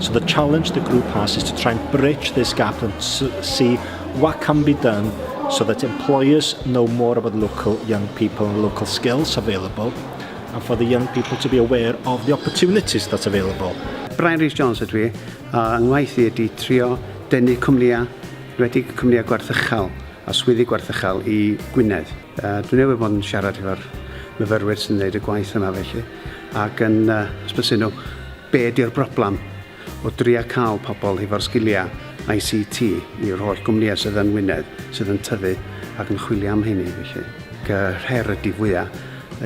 So the challenge the group has is to try and bridge this gap and see what can be done so that employers know more about local young people and local skills available and for the young people to be aware of the opportunities that's available. Brian Rhys Jones ydw i, a ngwaith i ydy trio denu cwmnïau, redig cwmnïau gwarthychal a swyddi gwarthychal i Gwynedd. Uh, dwi'n newydd bod yn siarad efo'r myfyrwyr sy'n gwneud y gwaith yma felly, ac yn uh, hysbysu nhw Be ydy'r broblem? O dria cael pobl hefo'r sgiliau ICT i'r holl gwmnïau sydd yn Ngwynedd sydd yn tyfu ac yn chwilio am rheiny felly. Ac y her ydy fwya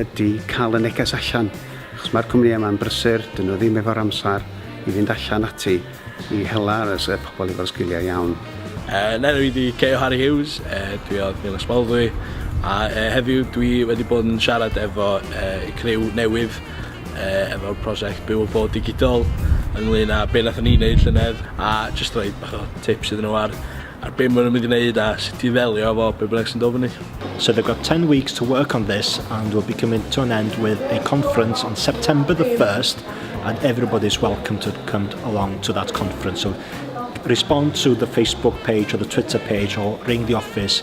ydy cael y neges allan achos mae'r cwmnïau yma'n brysur, dyn nhw ddim efo'r amser i fynd allan ati i hela y pobl efo'r sgiliau iawn. Yn enw i ydy Keo Harry Hughes, dwi o Nil Ysmaldwy a heddiw dwi wedi bod yn siarad efo criw newydd yy efo'r prosiect Byw a Bod Digidol ynglŷn â be' nathon ni neud llynedd a jyst rhoi bach o tips iddyn nhw ar ar be' ma' nhw'n mynd i neud a sut i ddelio efo be' bynnag sy'n dod fyny. So they've got 10 weeks to work on this and we'll be coming to an end with a conference on September the 1st and everybody's welcome to come along to that conference. So respond to the Facebook page or the Twitter page or ring the office